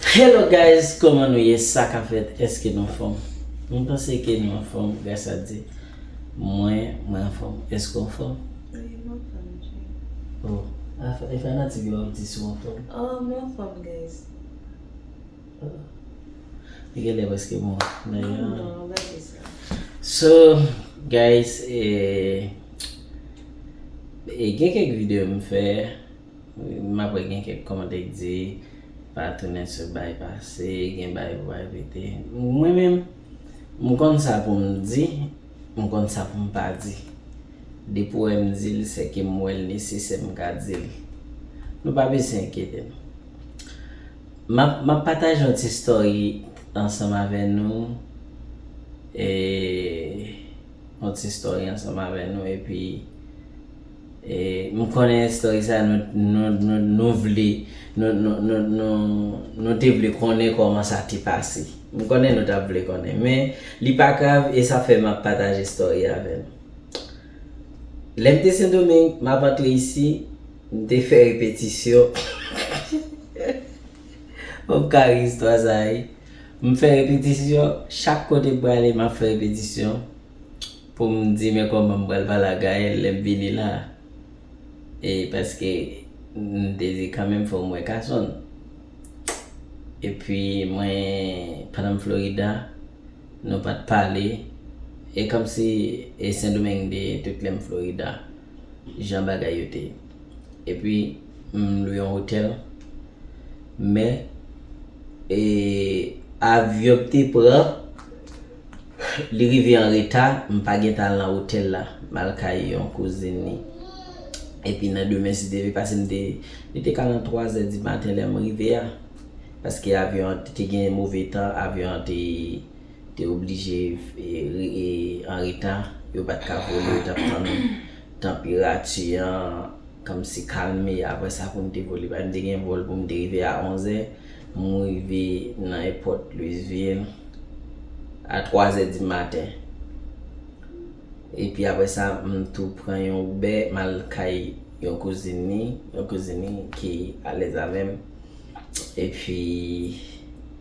Hello guys koman nou ye sa ka fèt eske nou anfòm mwen panse ke nou anfòm gras a Dye mwen mwen anfòm eske ou anfòm wi mwen anfòm Jay oh e fanatik yo wap di si w anfòm oh mwen anfòm guys oh li genlè prèske bon nan non non an pa di sa so guys e gen kèk videyo m fè. M ap wè gen kèk kòmantè k di pa tounen sou bay pase, gen bay pou bay pete. Mwen menm, m konn sa pou m di, m konn sa pou m pa di. Depi w wè m di l, se ke m wè l nesesè m ka di l. Nou pa bezwen enkyete nou. M ap, m ap pataje yon ti story ansanm avè nou, e yon ti story ansanm avè nou epi. M konnen story sa nou vle nou te vle konnen koman sa te pase m konnen nou tap vle konnen men li pa grav e sa fè map pataje story a avè nou lèm te sendomeng map antre isi m te fè repetisyon fòm ka ri istwa sa wi m fè repetisyon chak kote m prale map fè repetisyon. Poum di men kòman m pral pale ak Gaëlle lèm vini la e paske m te di kanmenm fòm wè kasonn epi mwen pandan m Florida nou pat pale e kòmsi e sendomeng m te ye tout lèm Florida jan bagay yo te ye epi m lwe yon otèl men e avyon m te pran. Li rive an reta, m pa gen tan al nan otèl la. M al kay yon kouzin li. Epi nan demen si te vle pase m te, li te ka nan twazè di maten lè m rive a. Paske avyon an te gen move tan, avyon an te te oblije e an reta. Yo pa t ka vole, yo t ap tann tanperati an kòmsi kalme apre sa pou m te vole. Paske m te gen vòl pou m te rive a onzè. M rive nan èpòt Louisville a 3 zè di maten. Epi apre sa, m tou pran yon Uber m al kay yon kouzin ni, yon kouzin ni ki alèz avè m. Epi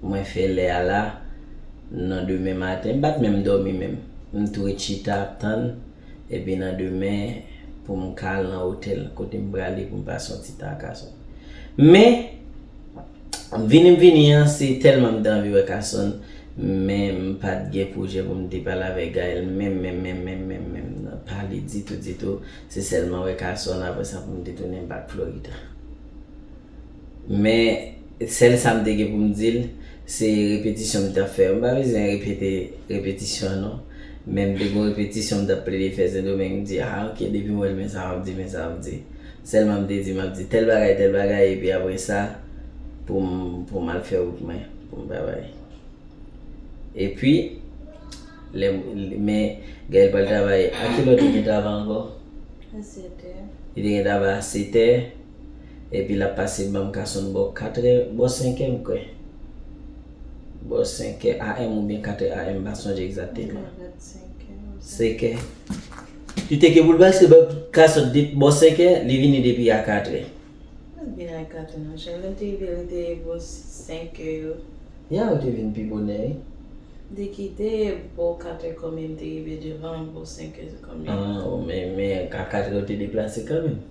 mwen fè lè a la nan demen maten. M pa t menm dòmi menm. M tou ret chita ap tann. Epi nan demen pou m ka al nan otèl kote m prale pou m pase yon ti tan ak Kason. Men, vini m vini an se tèlman m te anvi wè Kason, men m pa t gen pwojè pou m te pale avèk Gaëlle menm menm menm menm menm menm nan, pale ditou ditou, se sèlman wè Kason aprè sa pou m te tounen bak Florida. Men, sèl sa m te gen pou m di l, se repetisyon m t ap fè. M pa bezwen repete repetisyon an non. Men m te gon repetisyon m t ap plede fè Sendomeng. M di, ah ok, depi m wè l men sa m ap di, men sa m ap di. Sèlman m te di m ap di tèl bagay, tèl bagay epi apre sa, pou m, pou m al fè wout mwen, pou m travay. Epi, lè m, men Gaëlle pral travay, a ki lè w te gen travay ankò? A sètè. Li te gen travay a setè. Epi lap pase banm kasonn bò 4 è, bò 5 è m kwè. Bò 5 è AM oubyen 4 è AM m pa sonje egzateman. Mwen kwè se 5 è. 5 è. Li teke pou l pase banm kasonn de bò 5 è, li vini depi a 4 è. Li pat vini a 4 è non cheri, lè m te rive li te bò 5 è yo. Ya ou te vin pi bonè wi. Li kite bò 4 è konbyen m te rive devan l bò 5 è se konbyen? An ou men a 4 è ou te deplase kanmenm.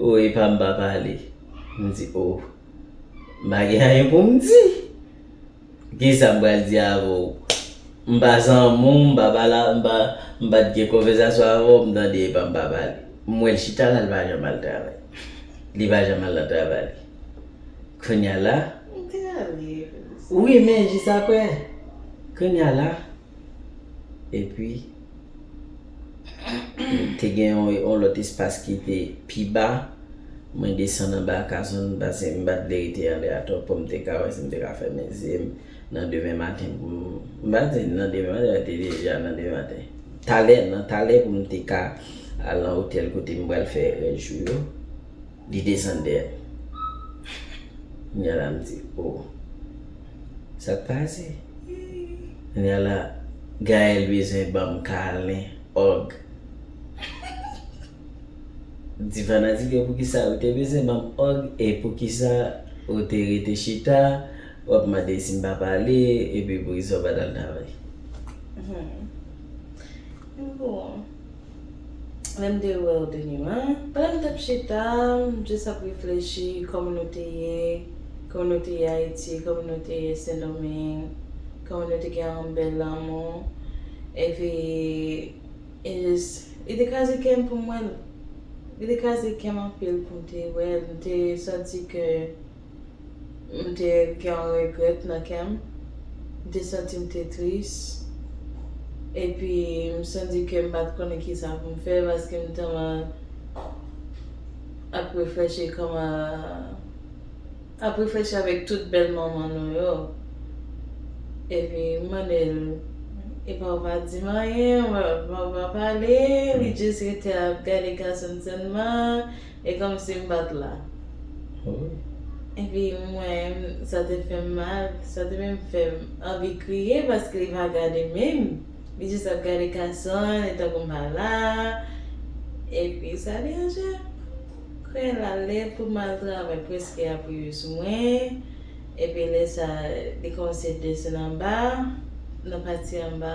Ooh epa m pa pale m di ooh m pa gen anyen pou m di kisa m pral di avè w m pa zanmi w m pa pala m pa m pa t gen konvèzasyon avè w m tande epa m pa pale m wè l chita la l pa janm al travay li pa janm al nan travay li kounya la wi men jis aprè kounya la. Epi, te gen yon lòt espas ki te pi ba. Mwen desann anba kazon m pase m pa t vle rete anlè atò pou m te ka wè si m te ka fèmen zye m nan demen maten pou m. M pa di nan demen maten, men te deja nan demen maten. Talè, nan talè pou m te ka al nan otèl kote m pral fè rès jou yo. Li desann dèyè m. Kounya la m di oh. Sa k pase? Kounya la Gaëlle bezwen ban m kalen, ug. M di fanatik yo poukisa ou te bezwen ban m ug e poukisa ou te rete chita w ap mande si m pa pale epi poukisa w pa t al travay. Hum. Bon. lèm te wèw te gen lan. Pandan m t ap chita, m just ap reflechi kòman nou te ye, kòman nou te ye Ayiti, kòman nou te ye Sendomeng, kòman nou te gen yon bèl lanmou, epi e just li te kraze kè m pou m wè l, li te kraze kè m anpil pou m te wè l, m te santi ke. m te gen yon regrèt nan kè m, m te santi m te tris, epi m santi ke m pa t konnen kisa pou m fè paske m tèlman ap reflechi kòman, ap reflechi avèk tout bèl moman nou yo. Epi m mande l, e pa w pa di m anyen, pa w pa pale, li jis rete ap gade gason l sèlman, E kòmsi m pa t la. Epi mwen, sa te fè m mal, sa te menm fè m anvi kriye paske li pa gade menm. Li jis ap gade Kasonn e tankou m pa la. Epi sa deranje m. Kounya l la lè pou m al travay prèske ap rive sou mwen. Epi lè sa li kòmanse desann anba, nan pati anba.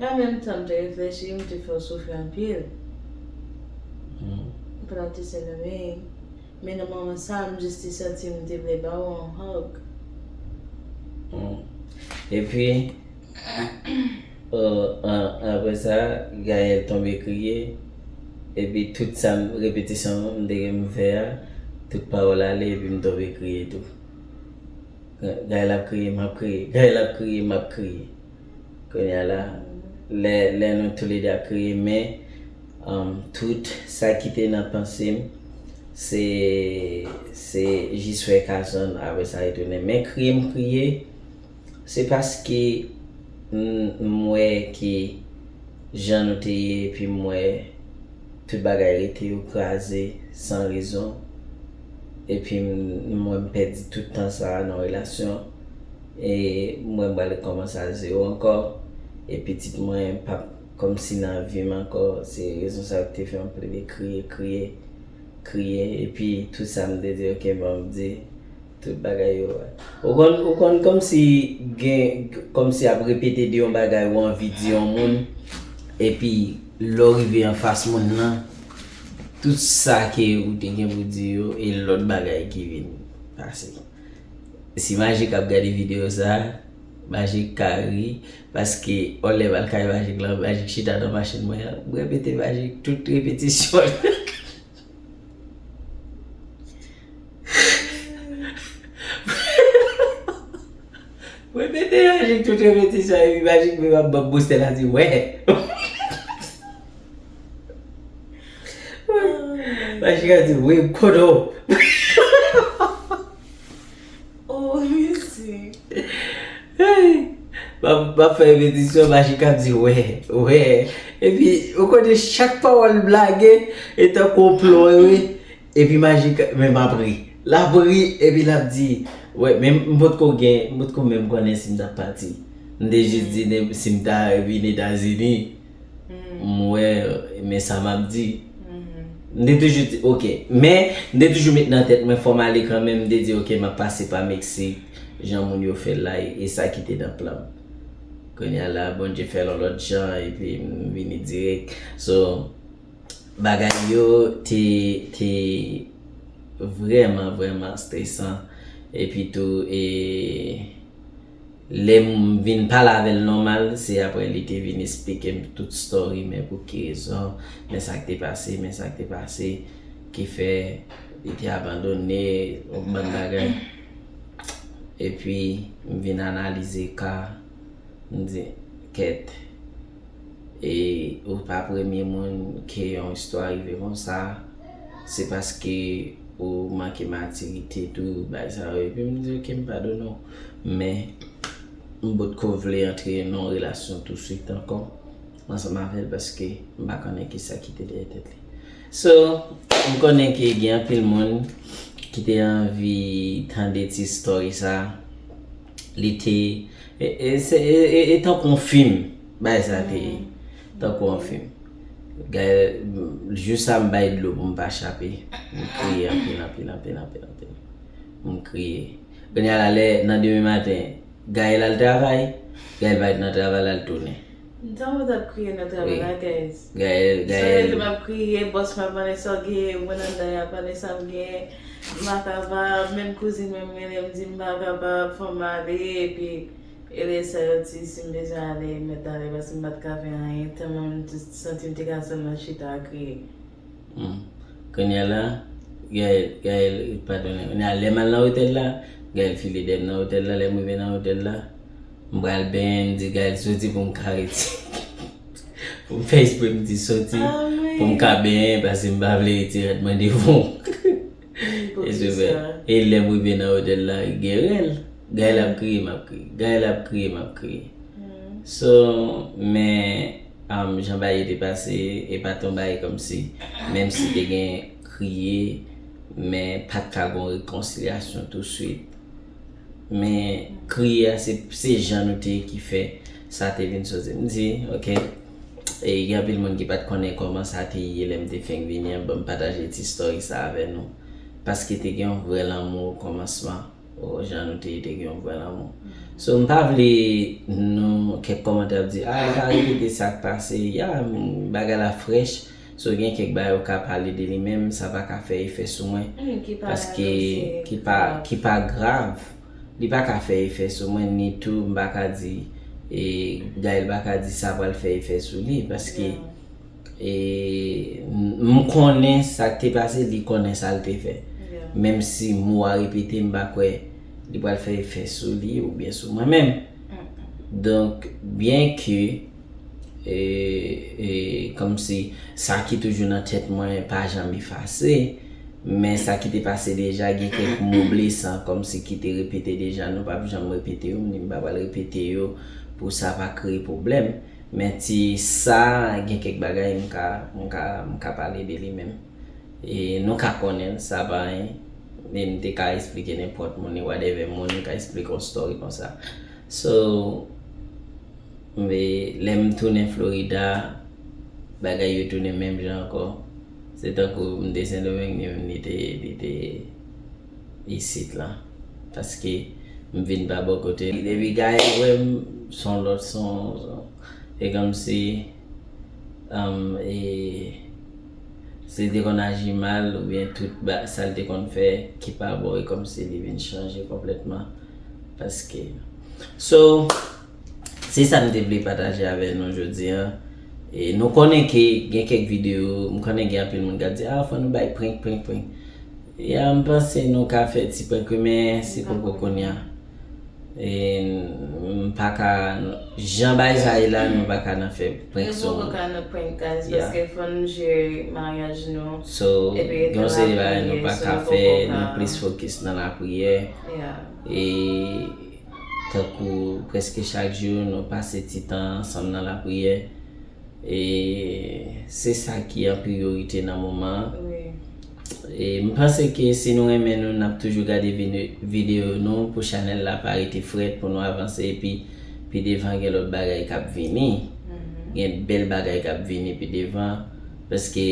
An menm tan m te reflechi, m te fè w soufri anpil. Pandan w te Sendomeng. Men nan moman sa a, m jis te santi m te vle ba w yon hug. Epi, apre sa, Gaelle tonbe kriye. Epi tout sa m, repetisyon m te gen pou m fè a, tout pawòl ale epi m tonbe kriye tou. Gaelle ap kriye, m ap kriye, Gaelle ap kriye, m ap kriye. Kounya la, lè nou toule 2 ap kriye men tout sa ki te nan panse m se se jis wè Kasonn apre sa retounen. Men kriye m kriye se paske m wè ki jan nou te ye epi m wè tout bagay rete yo kraze san rezon. Epi m wè m pèdi tout tan sa nan relasyon e m wè m pral rekòmanse a zewo ankò e pitit mwen pap kòmsi nan vi m ankò se rezon sa ki te fè m plede kriye kriye kriye epi tout sa m te di ok bon m di tout bagay yo ou konn ou konn kòmsi gen kòmsi ap repete de yon bagay ou anvi di yon moun epi lè w rive anfas moun lan Tout sa ke ou te gen pou di yo e lòt bagay ki vin pase. Si Majik ap gade video sa, Majik ka ri, paske on lè m'al kay Majik lan, Majik chita nan machin mwen an, m repete Majik tout repetisyon yo. M repete Majik tout repetisyon yo epi Majik menm ap banm bostè lap di, wè! Rachika di wi m konnen w. Oh mizik. Map fè repetisyon Rachika ap di wè, wè. Epi ou konnen chak pawòl blage e tankou yon plon an wi. Epi Rachika men map ri. Lap ri epi lap di wè men m potko gen, m potko menm konnen si m tap pati. M te jis di si m ta vin Etazini. m wè men sa m ap di. M te toujou di ok. Men, m te toujou met nan tèt mwen fò m ale kanmenm. M te di ok m ap pase pa Meksik jan moun yo fè l la e sa ki te nan plan m. Kounye a la, Bondye fè l yon lòt jan epi m vini dirèk. So, bagay yo te te vrèman vrèman stresan epitou e. Lem vin pale avel normal se apre li te vin esplikem tout story men pou ki rezon men sak te pase men sak te pase ki fè li te abandone yon bann bagay epi m vin analize ka m di ket. E ou pa premye moun ke yon istwa rive konsa, se paske ou manke matirite tou bay sa yo. Epi m di ok m padone w, men m potko vle antre nan yon relasyon touswit ankò ansanm avè l paske m pa konnen kisa ki te dèyè tèt li. So m konnen ke gen anpil moun ki te anvi tande ti story sa li te e tankou yon film bagay sa te ye tankou yon film jou sa m bay dlo pou m pa chape m kriye anpil anpil anpil anpil anpil m kriye kounya la lè nan demen maten Gaël al travay Gaël pa ret nan travay la l tounen. M tankou m tap kriye nan travay la guys. Gaëlle Gaëlle. Sou rete map kriye boss mwen ap mande sa w genyen mwen anndan yap mande sam genyen m pa kapab menm kouzin mwen m rele m di m pa kapab fòm ale epi Eley sa yo di sim bezwen ale mèt ale paske m pat ka fè anyen tèlman m t santim te ka sèlman chita a kriye. Humm kounya la Gaëlle Gaëlle padone kounya lèm al nan otèl la Gaëlle file deyèm nan otèl la lèm rive nan otèl la m pral benyen m di Gaëlle soti pou m ka rete pou m fè espre m di soti pou m ka benyen paske m pa vle rete rèd mande yon. E lèm rive nan otèl la gen rèl Gaëlle ap kriye map kriye Gaëlle ap kriye map kriye So men jan bagay yo te pase e pat yon bagay kòmsi menm si te gen kriye men pat ka gon rekonsilyasyon tou swit. Men kriye a se jan nou te ye ki fè sa te vin soti. M di ok, e gen anpil moun ki pat konnen kòman sa te ye lè m te fenk vini an, banm pataje ti story sa avè nou. Paske te gen yon vrè lanmou o kòmansman, o jan nou te ye te gen yon vrè lanmou. So m pa vle nou kèk kòmantè ap di a li pa repete sak pase, ya bagay la frèch. So gen kèk bagay ou ka pale de li menm sa pa ka fè efè sou mwen paske ki pa grav li pa ka fè efè sou mwen ni tou m pa ka di e Gaëlle pa ka di sa pral fè efè sou li paske e m konnen sa k te pase li konnen sa l te fè menm si mo a repete m pa kwè li pral fè efè sou li oubyen sou mwen menm donk byen ke E kòmsi sa ki toujou nan tèt mwen pa janm efase, men sa ki te pase deja gen kèk mo blesan kòmsi ki te repete deja nou pap janm repete yo, m di m pa pral repete yo pou sa pa kreye pwoblèm. Men ti sa gen kèk bagay m ka, m ka, m ka pale de li menm. E nou ka konnen l, sa pa anyen. E m te ka esplike nenpòt moun e whatever moun ka esplike yon story konsa. So. Enbe lè m tounen Florida, bagay yo tounen menm jan ankò. Se tankou m te Sendomeng ni menm li te isit lan. Paske m vin pa bò kote. Depi Gaël wè m, s on lòt son. Se kòmsi si l te konn aji mal oubyen tout sa l te konn fè ki pa bon e kòmsi li vin chanje konplètman. Paske. So. Se sa m te vle pataje avè nou jodi an. E nou konnen ke gen kèk videyo, m konnen gen anpil moun k ap di, a fò nou bay prank, prank, prank. Ya m panse nou ka fè ti prank wi men se poko kounya. E m pa ka, jan bagay sa ye la nou pa ka nan fè prank sou moun. Nou poko ka nan prank guys paske fò nou jere maryaj nou. So gen yon seri bagay nou pa ka fè, nou plis fokis nan lapriyè. E. Tankou prèske chak jou, nou pase ti tan ansanm nan lapriyè. E se sa ki an priyorite nan moman an. E m panse ke si nou renmen nou, n ap toujou gade videyo nou pou chanèl la pa rete frèt, pou nou avanse. Epi pi devan gen lòt bagay k ap vini. Gen bèl bagay k ap vini pi devan. Paske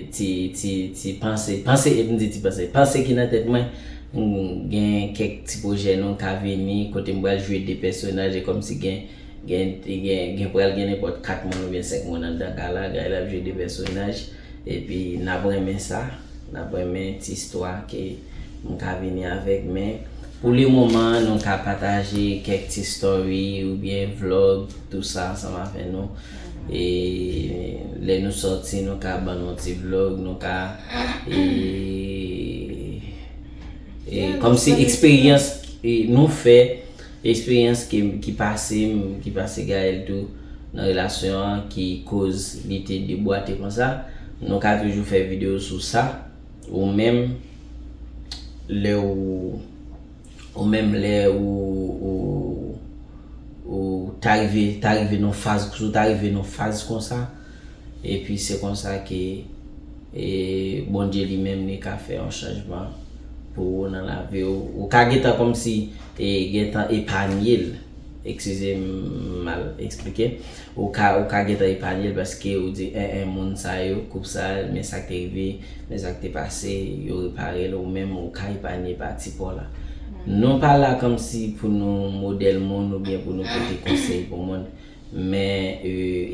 ti, ti, ti panse, panse, m di ti panse, panse ki nan tèt mwen, m gen kèk ti pwojè non ka vini, kote m pral jwe 2 pèsonaj, e kòmsi gen, gen, gen, gen pral gen nenpòt 4 moun oubyen 5 moun anndan ka la, Gaëlle ap jwe 2 pèsonaj, epi n ap renmen sa, n ap renmen ti istwa ke m ka vini avèk, men pou le moman nou ka pataje kèk ti story oubyen vlog. Tout sa ansanm avè nou. E lè nou sòti nou ka ban nou ti vlog, nou ka e e kòm si eksperyans nou fè, eksperyans ki pase m, ki pase Gaëlle tou nan relasyon an ki koz li te debwate konsa, nou ka toujou fè videyo sou sa ou menm lè ou. Ou menm lè ou ou ta rive ta rive nan faz si w ta rive nan faz konsa epi se konsa ke e Bondye li menm li ka fè yon chanjman pou ou nan lavi w ou ka gentan kòmsi e gentan epanye l. Eskize m mal esplike. Ou ka ou ka gentan epanye l paske ou di 1 1 moun sa yo, koup sa, men sa k te rive, men sa k te pase, yo repare l, ou menm ou ka epanye pati pa w la. Nou pa la kòmsi pou nou modèl moun oubyen pou nou pote konsèy pou moun, men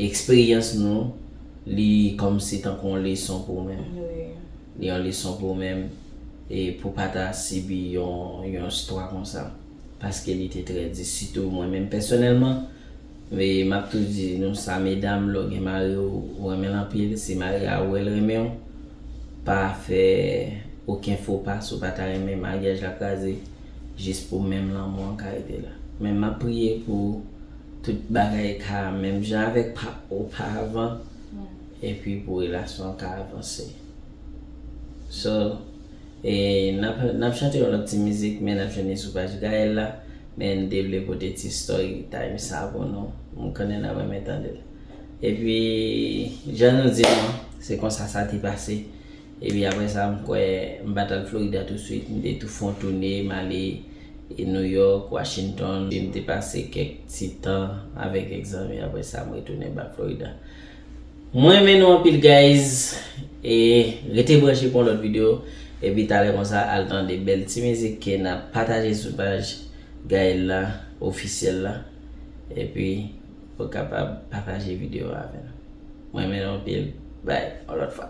eksperyans nou li kòmsi tankou yon leson pou ou menm. Li yon leson pou ou menm e pou pa ta sibi yon istwa konsa. paske li te trè di sitou mwen menm pèsonèlman e m ap tou di nou sa medam lè w gen mari w ou renmen l anpil si mari a wè l renmen w pa fè oken fo pa si w pa ta renmen maryaj la kraze jis pou menm lanmou an ka rete la men m ap priye pou tout bagay ka menm jan avèk pa oparvan epi pou relasyon an ka avanse so. E nap nap chante yon lòt ti mizik men nap jwenn li sou paj Gaël la men mte vle pote ti story time sa pou nou mkonnen nap renmen tandel epi jan nou di nou se konsa sa te pase epi aprè sa mkwè mpat al Florida tout swit mte tou fon toune male New York, Washington mte pase kèk ti tan avèk Exange aprè sa mretounen back Florida. Mwen renmen nou anpil guys e rete branche pou yon lòt video epi talè konsa al tande bèl ti mizik ke nap pataje sou paj Gaëlle la officiel la epi ou kapab pataje video a avè nou mwen renmen nou anpil bye yon lòt fwa.